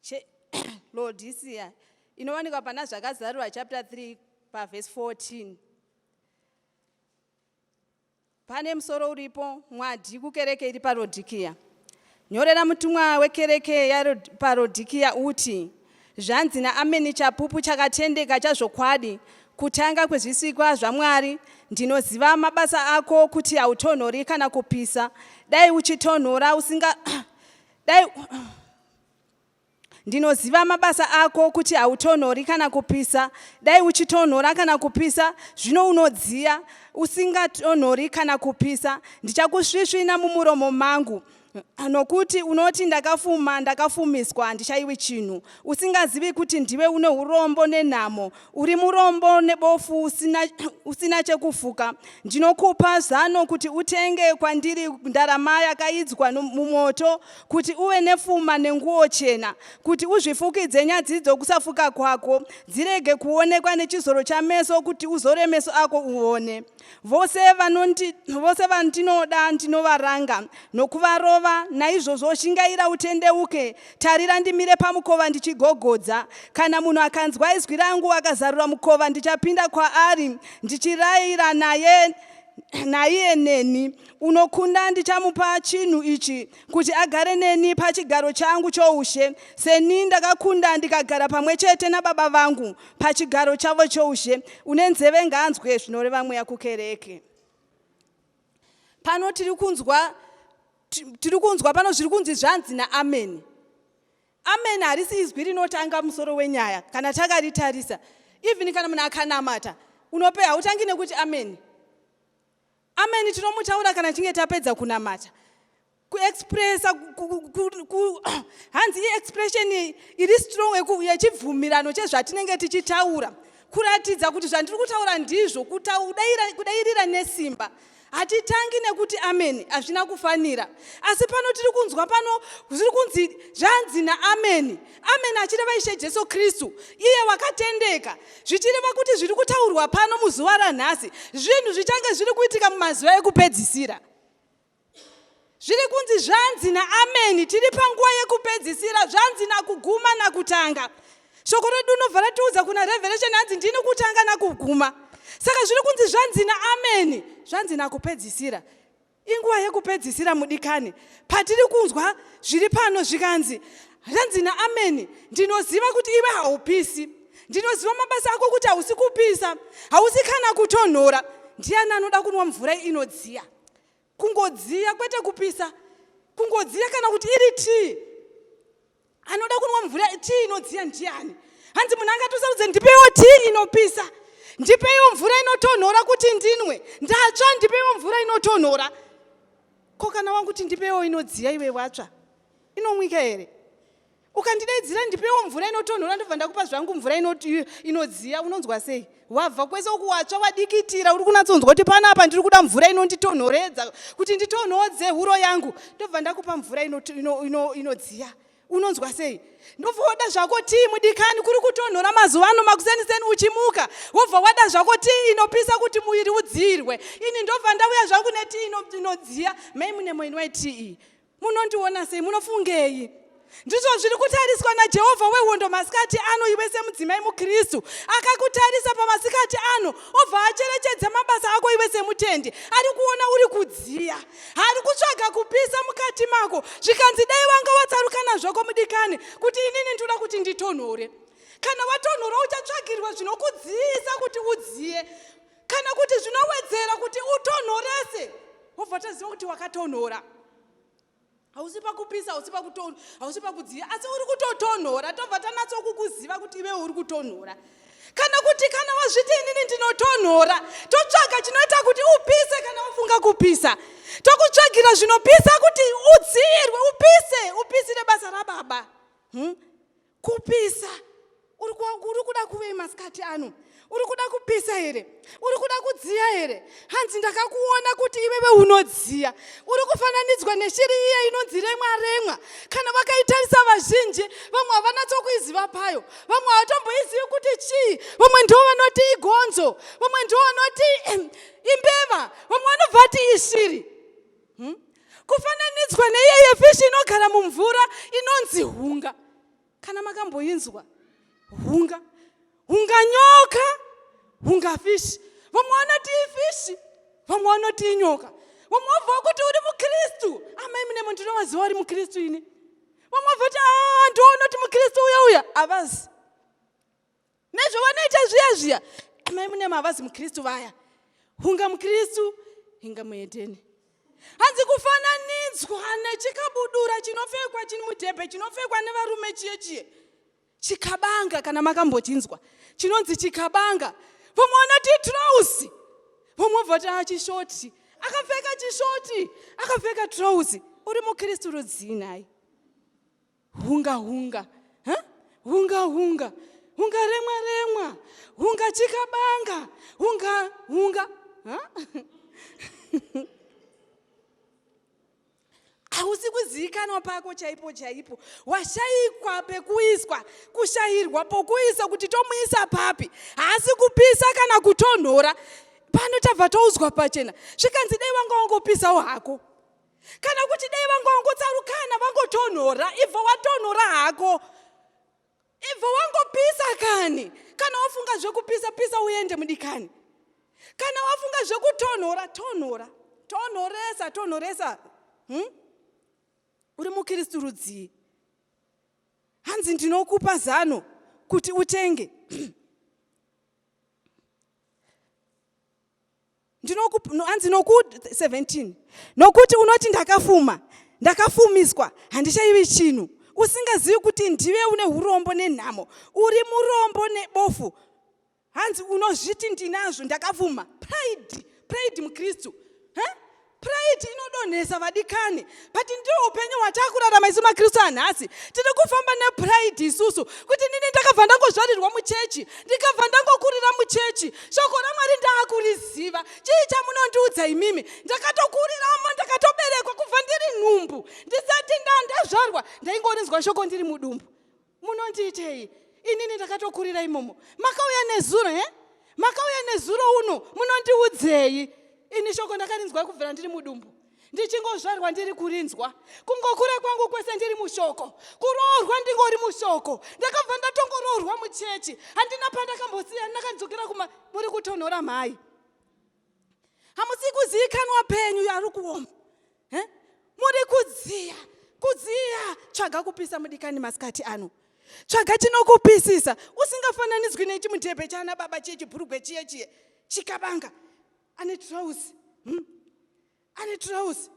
cheLaodicea inowanikwa pana Zvakazarurwa chapter 3 pavhesi 14. Pane musoro uripo mwadhi kukereke iri paRodhikia. Nyorera mutumwa wekereke yapaRodhikia uti, Zvanzi naAmeni chapupu chakatendeka chazvokwadi, kutanga kwezvisikwa zvaMwari, ndinoziva mabasa ako kuti hautonhori kana kupisa. Dai uchitonhora usinga dai ndinoziva mabasa ako kuti hautonhori kana kupisa dai uchitonhora kana kupisa zvino unodziya usingatonhori kana kupisa ndichakusvisvina mumuromo mangu nokuti unoti ndakafuma ndakafumiswa handichaiwi chinhu usingazivi kuti ndiwe une urombo nenhamo Uri murombo nebofu usina, usina chekufuka. Ndinokupa zano kuti utenge kwandiri ndarama yakaidzwa mumoto, kuti uve nefuma nenguo chena, kuti uzvifukidze nyadzi dzokusafuka kwako, dzirege kuonekwa nechizoro chameso, kuti uzore meso ako uone. Vose, vanondi, vose vandinoda ndinovaranga nokuvarova, naizvozvo shingaira utendeuke, Tarira ndimire pamukova ndichigogodza. Kana munhu akanzwa izwi rangu akazarura mukova, ndichapinda kwaari ndichirayira naye naiye neni. Unokunda ndichamupa chinhu ichi kuti agare neni pachigaro changu choushe, seni ndakakunda ndikagara pamwe chete nababa vangu pachigaro chavo choushe. Une nzeve ngaanzwe zvinoreva mweya kukereke. Pano tiri kunzwa tiri kunzwa pano zviri kunzi zvanzi naameni. Ameni harisi izwi rinotanga musoro wenyaya kana takaritarisa. Even kana munhu akanamata unope hautangi nekuti ameni. Ameni tinomutaura kana tichinge tapedza kunamata. kuexpressa hanzi iexpression iri strong yechibvumirano chezvatinenge tichitaura kuratidza kuti zvandiri kutaura ndizvo kudairira nesimba hatitangi nekuti ameni hazvina kufanira asi pano tiri kunzwa pano zviri kunzi zvanzi naameni ameni achireva ishe jesu kristu iye wakatendeka zvichireva kuti zviri kutaurwa pano muzuva ranhasi zvinhu zvichange zviri kuitika mumazuva ekupedzisira zviri kunzi zvanzi naameni tiri panguva yekupedzisira zvanzi nakuguma nakutanga shoko redu unobva ratiudza kuna revelation hanzi ndini kutanga nakuguma saka zviri kunzi zvanzi naameni zvanzi nakupedzisira inguva yekupedzisira mudikani patiri kunzwa zviri pano zvikanzi zvanzi naameni ndinoziva kuti iwe haupisi ndinoziva mabasa ako kuti hausi kupisa hausi kana kutonhora ndiani anoda kunwa mvura inodziya kungodziya kwete kupisa kungodziya kana kuti iri tii anoda kunwa mvura tii inodziya ndiani hanzi munhu angatusarudze ndipeiwo tii inopisa ndipeiwo mvura inotonhora kuti ndinwe ndatsva ndipeiwo mvura inotonhora ko kana wangu kuti ndipeiwo inodziya iwe watsva inomwika here ukandidaidzira ndipewo mvura inotonhora ndobva ndakupa zvangu mvura inodziya unonzwa sei wabva kwese uku watsva wadikitira uri kunatsonzwa kuti pano apa ndiri kuda mvura inonditonhoredza kuti nditonhodze huro yangu ndobva ndakupa mvura inodziya unonzwa sei ndobva wada zvako tii mudikani kuri kutonhora mazuva ano makuseniseni uchimuka wobva wada zvako tii inopisa kuti muviri udziirwe ini ndobva ndauya zvangu netii inodziya mai mune moini waitii munondiona sei munofungei ndizvo zviri kutariswa najehovha wehondo masikati ano iwe semudzimai mukristu akakutarisa pamasikati ano obva acherechedza mabasa ako iwe semutendi ari kuona uri kudziya ari kutsvaga kupisa mukati mako zvikanzi dai wanga watsarukana zvako mudikani kuti inini ndinoda kuti nditonhore kana watonhora uchatsvagirwa zvinokudziyisa kuti udziye kana kuti zvinowedzera kuti utonhorese wobva taziva kuti wakatonhora hausi pakupisa hausi pakutonhora hausi pakudziya asi uri kutotonhora tobva tanatsokukuziva kuti ive uri kutonhora kana kuti kana wazviti inini ndinotonhora totsvaga chinoita kuti upise kana wafunga kupisa tokutsvagira zvinopisa kuti udziirwe upise upisire basa rababa hmm? kupisa uri kuda kuvei masikati ano uri kuda kupisa here uri kuda kudziya here hanzi ndakakuona kuti iwewe unodziya uri kufananidzwa neshiri iye inonzi remwa remwa kana vakaitarisa vazhinji vamwe havanatsokuiziva payo vamwe havatomboizivi kuti chii vamwe ndivo vanoti igonzo vamwe ndivo vanoti imbeva vamwe vanobva ti ishiri hmm? kufananidzwa neyeye fishi inogara mumvura inonzi hunga kana makamboinzwa hunga hunga nyoka hunga fishi vamwe vanoti ifishi vamwe vanoti inyoka vamwe wabva kuti uri mukristu amai mune munhu ndinovaziva uri mukristu ini vamwe vabva kuti ah, ndoona kuti mukristu uya uya havazi nezvavanoita zviya zviya amai munyama havazi mukristu vaya hunga mukristu hinga muhedheni hanzi kufananidzwa nechikabudura chinopfekwa chini mudhebhe chinopfekwa nevarume chiye chiye chikabanga kana makambochinzwa chinonzi chikabanga vamwe vanoti trousi vamwe voti achishoti ah, akapfeka chishoti akapfeka trousi uri mukristu rudzii nhai hunga hunga huh? hunga hunga hunga remwa remwa hunga chikabanga hunga hunga huh? hausi kuzivikanwa pako chaipo chaipo washaikwa pekuiswa kushayirwa pokuisa kuti tomuisa papi haasi kupisa kana kutonhora pano tabva toudzwa pachena zvikanzi dai wanga wangopisawo hako kana kuti dai vangongotsarukana vangotonhora ibvo watonhora hako ibvo wangopisa kani kana wafunga zvekupisa pisa uende mudikani kana wafunga zvekutonhora tonhora tonhoresa tonhoresa hmm? uri mukristu rudzii hanzi ndinokupa zano kuti utenge ndinokuanzi noku 17 nokuti unoti ndakafuma ndakafumiswa handichaivi chinhu usingazivi kuti ndive une urombo nenhamo uri murombo nebofu hanzi unozviti ndinazvo ndakafuma pride pride mukristu huh? pride inodonhesa vadikani but ndiwo upenyu hwatakurarama isu makristu anhasi tiri kufamba nepride isusu kuti nini ndakabva ndangozvarirwa muchechi ndikabva ndangokurira muchechi shoko ramwari ndaakuriziva chii chamunondiudza imimi ndakatokuriramo ndakatoberekwa kubva ndiri nhumbu ndisati ndandazvarwa ndaingorinzwa shoko ndiri mudumbu munondiitei inini ndakatokurira imomo makauya nezuro he makauya nezuro uno munondiudzei ini shoko ndakarinzwa kubvira ndiri mudumbu ndichingozvarwa ndiri kurinzwa kungokura kwangu kwese ndiri mushoko kuroorwa ndingori mushoko ndakabva ndatongoroorwa muchechi handina pandakambosiya ndakanzokera kuma muri kutonhora mhai hamusi kuzivikanwa penyu ari kuoma eh? muri kudziya kudziya tsvaga kupisa mudikani masikati ano tsvaga chinokupisisa usingafananidzwi nechimudhebhe chaana baba chiye chibhurugwe chiye chiye chikabanga ane trouse hmm? ane trouse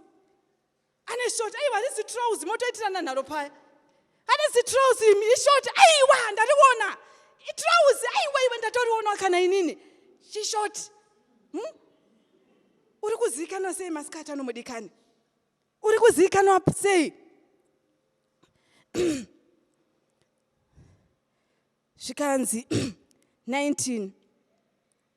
ane short aiwa this trouse motoitirana nharo paya ane zitrouse imi ishort aiwa ndariona itrouse aiwa iwe ndatorionwa kana inini chishort hmm? uri kuzivikanwa sei masikati anomudikani uri kuzivikanwa sei zvikanzi 19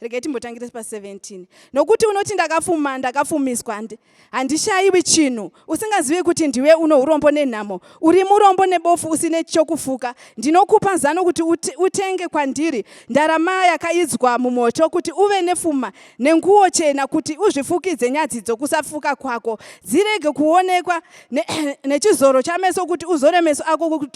regai timbotangire pa 17 nokuti unoti ndakafuma ndakafumiswa handishayiwi chinhu usingazive kuti ndiwe uno urombo nenhamo uri murombo nebofu usine chokufuka ndinokupa zano kuti utenge kwandiri ndarama yakaidzwa mumoto kuti uve nefuma nenguwo chena kuti uzvifukidze nyadzi dzokusafuka kwako dzirege kuonekwa nechizoro chameso kuti uzore meso ako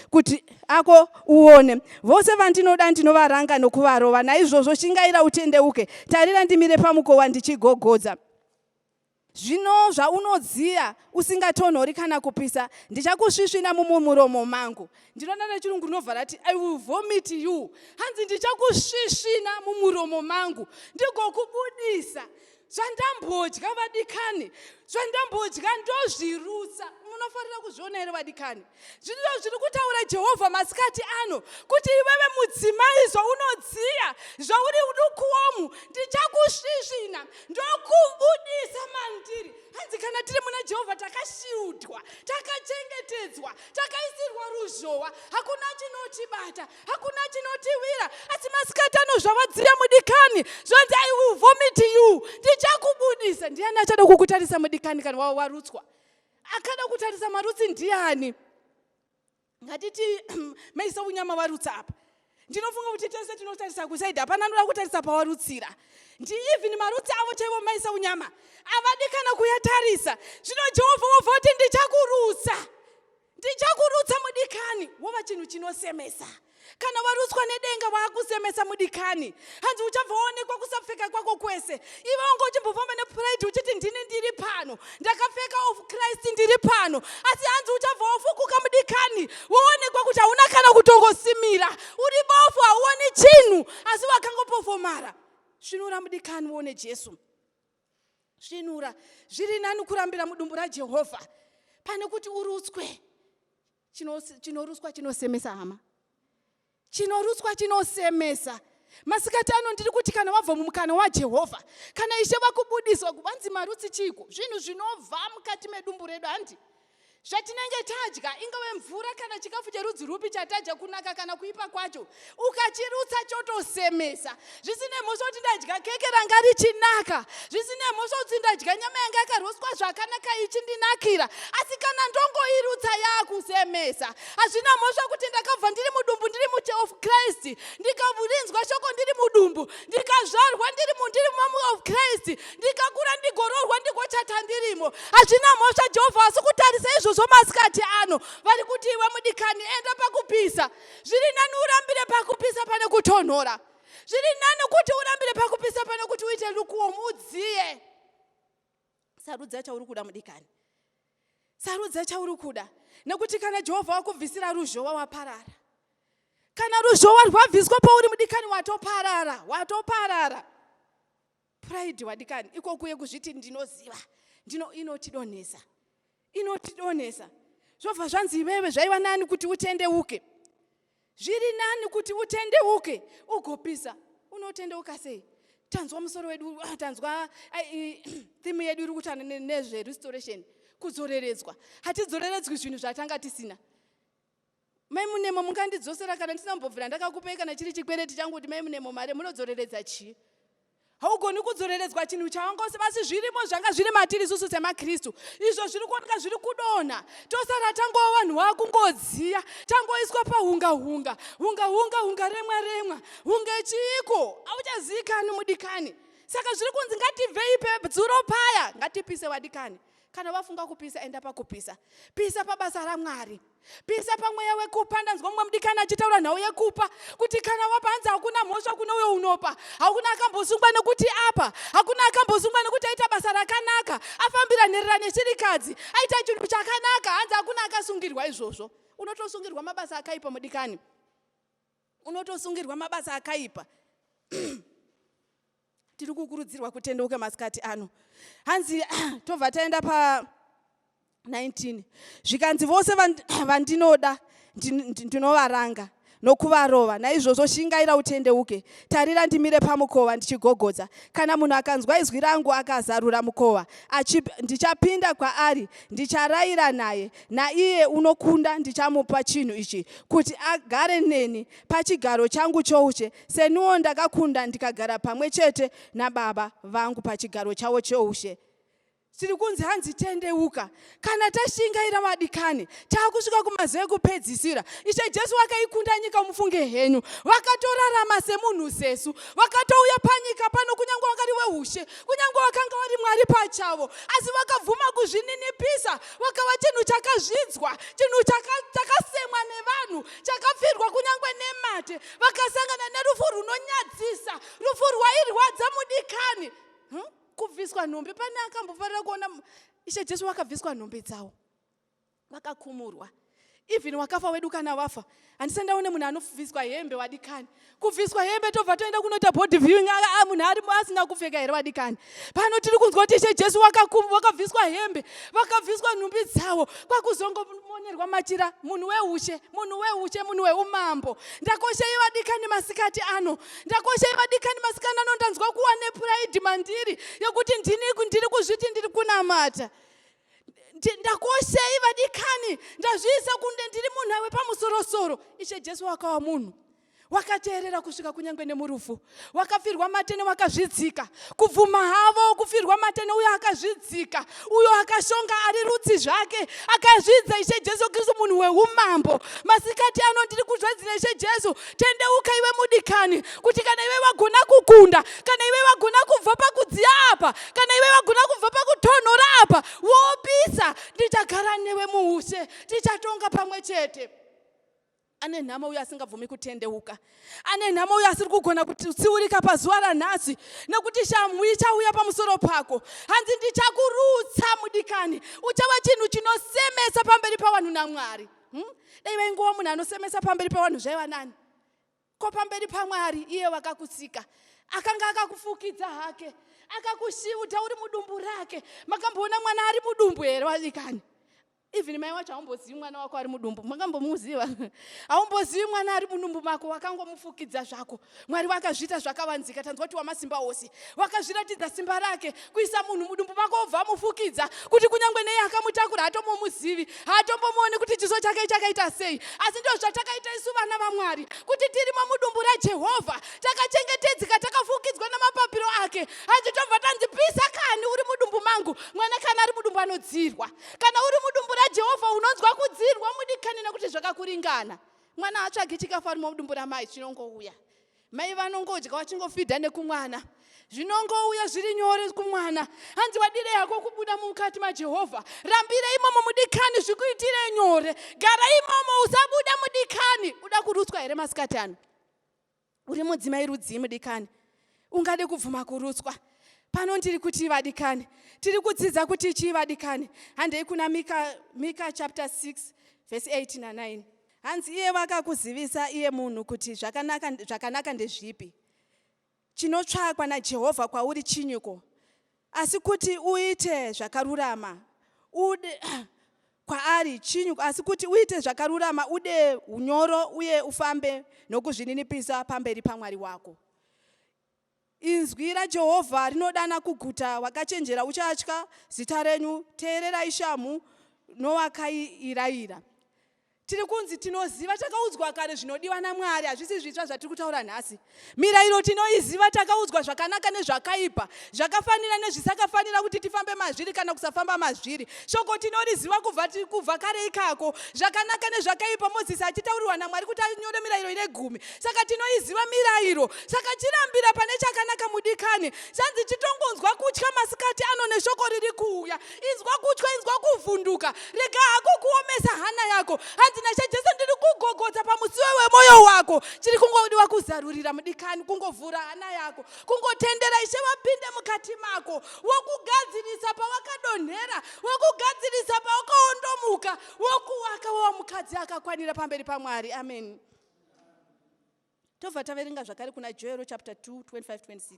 kuti ako uone. Vose vandinoda ndinovaranga nokuvarova, naizvozvo shingaira utendeuke. Tarira ndimire pamukova ndichigogodza. Zvino zvaunodziya usingatonhori kana kupisa, ndichakusvisvina mumuromo mangu. Ndinoda nechirungu rinovhara ati I will vomit you. Hanzi ndichakusvisvina mumuromo mangu ndigokubudisa zvandambodya vadikani zvandambodya ndozvirutsa munofanira kuzviona here vadikani zvinoo zviri kutaura jehovha masikati ano kuti iwewe mudzimai zvaunodziya zvauri udukuwomu ndichakusvisvina ndokubudisa mandiri hanzi kana tiri muna jehovha takashiudwa takachengetedzwa takaisirwa ruzhowa hakuna chinotibata hakuna chinotiwira asi masikati ano zvawadzira mudikani zvanzi i will vomit you ndichakubudisa ndiani achada kukutarisa mudikani kana wava warutswa akada kutarisa marutsi ndiani ngatiti maisa unyama varutsa apa ndinofunga kuti tese tinotarisa kusaidi hapana anoda kutarisa pawarutsira ndiivhini marutsi avo chaivo maisa unyama avadikana kuyatarisa zvino jehovha wobva kuti ndichakurutsa ndichakurutsa mudikani wova chinhu chinosemesa kana warutswa nedenga waakusemesa mudikani hanzi uchabva waonekwa kusapfeka kwako kwese ive wanga uchimbofamba nepride uchiti ndini ndiri pano ndakapfeka of christ ndiri pano asi hanzi uchabva wafukuka mudikani woonekwa kuti hauna kana kutongosimira uri bofu hauoni chinhu asi wakangopofomara svinura mudikani woone jesu svinura zviri nani kurambira mudumbu rajehovha pane kuti urutswe chinorutswa chinosemesa hama chinorutswa chinosemesa masikati ano ndiri kuti kana wabva mumukana wajehovha kana ishe vakubudiswa kuvanzi marutsi chiiko zvinhu zvinovha mukati medumbu redu handi Zvatinenge tadya, ingave mvura kana chikafu cherudzi rwupi chatadya kunaka kana kuipa kwacho, ukachirutsa chotosemesa. Zvisine mhosva kuti ndadya keke ranga richinaka, zvisine mhosva kuti ndadya nyama yanga yakaroswa zvakanaka ichindinakira, asi kana ndongoirutsa yakusemesa. Hazvina mhosva kuti ndakabva ndiri mudumbu ndiri muche of Christ, ndikarinzwa shoko ndiri mudumbu, ndikazvarwa ndiri mundiri of Christ, ndikakura ndigoroorwa ndigochata ndirimo hazvina mhosva jehovha asi kutarisa izvozvo masikati ano vari kuti iwe mudikani enda pakupisa zviri nani urambire pakupisa pane kutonhora zviri nani kuti urambire pakupisa pane kuti uite lukuomu udziye sarudza chauri kuda mudikani sarudza chauri kuda nekuti kana jehovha wakubvisira ruzhowa waparara kana ruzhowa rwabviswa pauri mudikani watoparara watoparara Pride wadikani ikoku yekuzviti ndinoziva ndino inotidonhesa inotidonhesa zvobva zvanzi iwewe zvaiva nani kuti utendeuke zviri nani kuti utendeuke ugopisa unotendeuka sei tanzwa musoro wedu ah, tanzwa thimu yedu iri kutana nezverestoration kudzoreredzwa hatidzoreredzwi zvinhu zvatanga tisina Mai Munemo mungandidzosera kana ndisina kumbobvira ndakakupai kana chiri chikwereti changu kuti Mai Munemo mari munodzoreredza chii? haugoni kudzoreredzwa chinhu chawanga usi basi zvirimo zvanga zviri matiri isusu semakristu izvo zviri kuoneka zviri kudonha tosara tangova vanhu vakungodziya tangoiswa pahunga hunga hunga hunga hunga remwa remwa hunge chiiko hauchazikani mudikani saka zviri kunzi ngatibvei pedzuro paya ngatipise vadikani Kana wafunga kupisa enda pakupisa. Pisa pabasa raMwari. Pisa pamweya wekupa ndanzwa mumwe mudikani achitaura nhau yekupa kuti kana wapa hanzi hakuna mhosva kune uyo unopa. Hakuna akambosungwa nekuti apa. Hakuna akambosungwa nekuti aita basa rakanaka. Afambira nherera nechirikadzi. Aita chinhu chakanaka hanzi hakuna akasungirwa izvozvo. Unotosungirwa mabasa akaipa mudikani. Unotosungirwa mabasa akaipa. Tiri kukurudzirwa kutendeuka masikati ano. Hanzi tobva taenda pa 19 zvikanzi vose vandinoda ndinovaranga nokuvarova naizvozvo shingaira utendeuke tarira ndimire pamukova ndichigogodza kana munhu akanzwa izwi rangu akazarura mukova ndichapinda kwaari ndicharaira naye naiye unokunda ndichamupa chinhu ichi kuti agare neni pachigaro changu choushe seniwo ndakakunda ndikagara pamwe chete nababa vangu pachigaro chavo choushe tiri kunzi hanzi tendeuka kana tashingaira vadikani taakusvika kumazuva ekupedzisira ishe jesu vakaikunda nyika mufunge henyu vakatorarama semunhu zesu vakatouya panyika pano kunyange wakari weushe kunyange wakanga wari mwari pachavo asi vakabvuma kuzvininipisa vakava chinhu chakazvidzwa chinhu chakasemwa nevanhu chakapfirwa kunyange nemate vakasangana nerufu runonyadzisa rufu rwairwadza mudikani hm? kubviswa nhombe pane akambofarira kuona ishe jesu vakabviswa nhombe dzavo vakakumurwa even wakafa wedu kana wafa handisa ndaone munhu anobviswa hembe wadikani kubviswa hembe tobva toenda kunoita body viewing aa munhu ari asina kupfeka here wadikani pano tiri kunzwa kuti ishe jesu wakabviswa hembe vakabviswa nhumbi dzawo kwakuzongomonerwa machira munhu weushe munhu weushe munhu weumambo ndakoshei vadikani masikati ano ndakoshei vadikani masikati ano ndanzwa kuwa nepuraidi mandiri yekuti ndini ndiri kuzviti ndiri kunamata ndakoshei vadikani ndazviisa kunde ndiri munhu awe pamusorosoro ishe jesu wakawa munhu wakateerera kusvika kunyange nemurufu wakafirwa matene wakazvidzika kubvuma havo kufirwa matene uyo akazvidzika uyo akashonga ari rutsi zvake akazvidza ishe jesu kristu munhu weumambo masikati ano ndiri kuzvadzira ishe jesu tendeuka iwe mudikani kuti kana iwe vagona kukunda kana iwe vagona kubva pakudziya apa kana iwe vagona kubva pakutonhora apa wopisa ndichagara newe muushe tichatonga pamwe chete ane nhamo uyo asingabvumi kutendeuka ane nhamo uyo asiri kugona kutsiurika pazuva ranhasi nekuti shamhu ichauya pamusoro pako hanzi ndichakurutsa mudikani uchava chinhu chinosemesa pamberi pavanhu namwari hmm? dai vaingova munhu anosemesa pamberi pevanhu zvaiva nani ko pamberi pamwari iye wakakusika akanga akakufukidza hake akakushiuta uri mudumbu rake makamboona mwana ari mudumbu here vadikani even mai wacho haumbozivi mwana wako ari mudumbu makambomuziva haumbozivi mwana ari mudumbu mako wakangomufukidza zvako Mwari vakazviita zvakavanzika, tanzwa kuti wamasimba ose. Vakazviratidza simba rake, kuisa munhu mudumbu mako obva amufukidza, kuti kunyange nei akamutakura haatombomuzivi, haatombomuoni kuti chiso chake chakaita sei. Asi ndizvo zvatakaita isu vana vaMwari, kuti tirimo mudumbu raJehovha, takachengetedzeka, takafukidzwa namapapiro ake. Hanzi tobva tanzi pisa kani uri mudumbu mangu. Mwana kana ari mudumbu anodzirwa. Kana uri mudumbu raJehovha unonzwa kudzirwa mudikani nekuti zvakakuringana. mwana haatsvagi chikafu ari mudumbu ramai chinongouya mai vanongodya vachingofidha nekumwana zvinongouya zviri nyore kumwana hanzi wadire yako kubuda mukati majehovha rambire imomo mudikani zvikuitire nyore gara imomo usabuda mudikani uda kurutswa here masikati ano uri mudzimai rudzii mudikani ungade kubvuma kurutswa pano ndiri kuti vadikani tiri kudzidza kuti chii vadikani handei kuna mika, mika chapter 6 vhesi 8 na9 hanzi iye vakakuzivisa iye munhu kuti zvakanaka, zvakanaka ndezvipi chinotsvakwa najehovha kwauri chinyiko Asi kuti uite zvakarurama ude kwaari chinyu asi kuti uite zvakarurama ude unyoro uye ufambe nokuzvininipisa pamberi pamwari wako inzwi rajehovha rinodana kuguta wakachenjera uchatya zita renyu teererai shamhu nowakaiirayira Tiri kunzi tinoziva, takaudzwa kare zvinodiwa naMwari, hazvisi zvitsva zvatiri kutaura nhasi. Mirayiro tinoiziva, takaudzwa zvakanaka nezvakaipa, zvakafanira nezvisakafanira kuti tifambe mazviri kana kusafamba mazviri. Shoko tinoriziva kubva, kubva kare ikako, zvakanaka nezvakaipa, Mozisi achitaurirwa naMwari kuti anyore mirayiro ine gumi. Saka tinoiziva mirayiro, saka chirambira pane chakanaka mudikani. Zvanzi chitongonzwa kutya masikati ano neshoko riri kuuya. inzwa kutya inzwa kuvhunduka rega hako kuomesa hana yako hanzi nashe jesu ndiri kugogodza pamusiwe wemoyo wako chiri kungodiwa kuzarurira mudikani kungovhura hana yako kungotendera ishe vapinde mukati mako wokugadzirisa pawakadonhera wokugadzirisa pawakaondomuka wokuwaka wowa mukadzi akakwanira pamberi pamwari amen tobva taverenga zvakare kuna joero chapter 2 25 26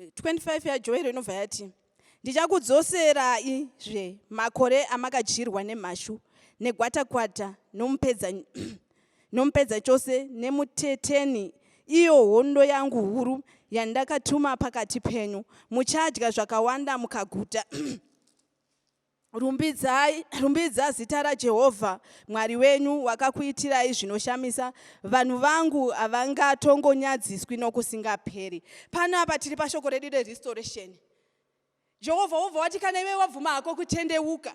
25 yaJoero inobva yati, Ndichakudzoserai zve makore amakadyirwa nemhashu, negwatakwata, nomupedza, nomupedza chose, nemuteteni, iyo hondo yangu huru yandakatuma pakati penyu. Muchadya zvakawanda mukaguta. Rumbidzai, rumbidza zita raJehovha Mwari wenyu, wakakuitirai zvinoshamisa. Vanhu vangu havangatongonyadziswi nokusingaperi. Pano apa tiri pashoko redu rerestoration. Jehovha wobva wati kana iwe wabvuma hako kutendeuka,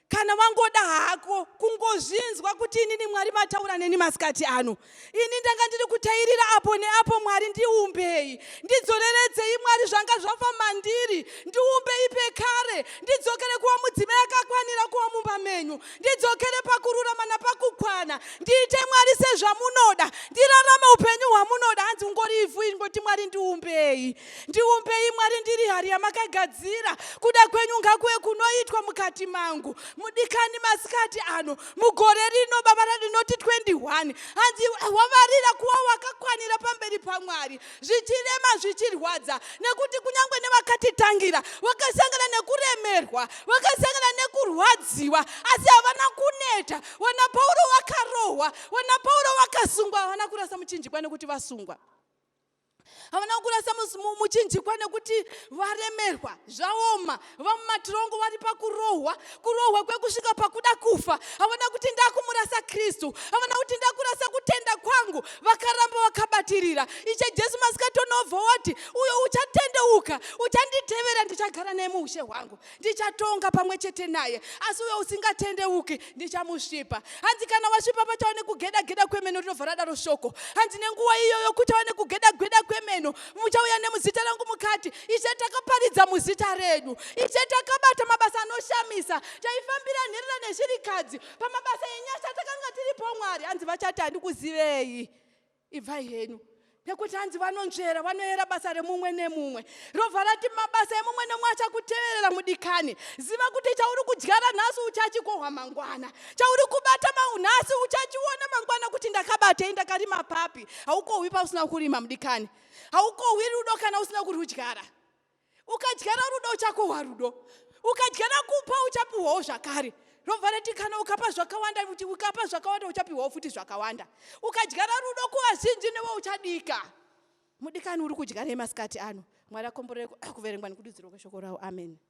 kana wangoda hako kungozvinzwa kuti inini Mwari mataura neni masikati ano, ini ndanga ndiri kutairira apo neapo mwari ndiumbei ndidzoreredzei mwari zvanga zvafa mandiri ndiumbei pekare ndidzokere kuva mudzimai akakwanira kuva mumba menyu ndidzokere pakururama napakukwana ndiite mwari sezvamunoda ndirarame upenyu hwamunoda hanzi ungori ivhu ingoti mwari ndiumbei ndiumbei mwari ndiri hari yamakagadzira kuda kwenyu ngakuve kunoitwa mukati mangu mudikani masikati ano mugore rino baba radinoti 21 hanzi wavarira kuva wakakwanira pamberi pamwari zvichirema zvichirwadza nekuti kunyange nevakatitangira vakasangana nekuremerwa vakasangana nekurwadziwa asi havana kuneta wana pauro vakarohwa wana pauro vakasungwa havana kurasa muchinjikwa nekuti vasungwa havana kurasa muchinjikwa nekuti varemerwa zvaoma vamumatirongo vari pakurohwa kurohwa kwekusvika pakuda kufa havana kuti ndakumurasa kristu havana kuti ndakurasa kutenda kwangu vakaramba vakabatirira ishe jesu masikatonovhowati uyo uchatendeuka uchanditevera ndichagara nemuushe hwangu ndichatonga pamwe chete naye asi uyo usingatendeuki ndichamusvipa hanzi kana wasvipa pachava nekugeda geda kwemeno rinobva radaro shoko hanzi nenguva iyoyo kuchava nekugeda gweda kwemeno muchauya nemuzita rangu mukati ishe takaparidza muzita redu ishe takabata mabasa anoshamisa taifambira nherera nezvirikadzi pamabasa enyasha takanga tiripo mwari hanzi vachati handikuzivei Ibvai henyu nekuti hanzi vanonzvera vanoyera basa remumwe nemumwe rovha rati mabasa emumwe nemumwe achakuteverera mudikani ziva kuti chauri kudyara nhasi uchachikohwa mangwana chauri kubata nhasi uchachiona mangwana kuti ndakabatei ndakarima papi haukohwi pausina kurima mudikani haukohwi rudo kana usina kurwudyara ukadyara rudo uchakohwa rudo ukadyara kupa uchapiwawo zvakare robva rati kana ukapa zvakawanda kuti ukapa zvakawanda uchapiwawo futi zvakawanda ukadyara rudo kuvazhinji newe uchadika mudikani uri kudya nei masikati ano mwari akomborere kuverengwa nekududzirwa kweshoko rawo amen, amen.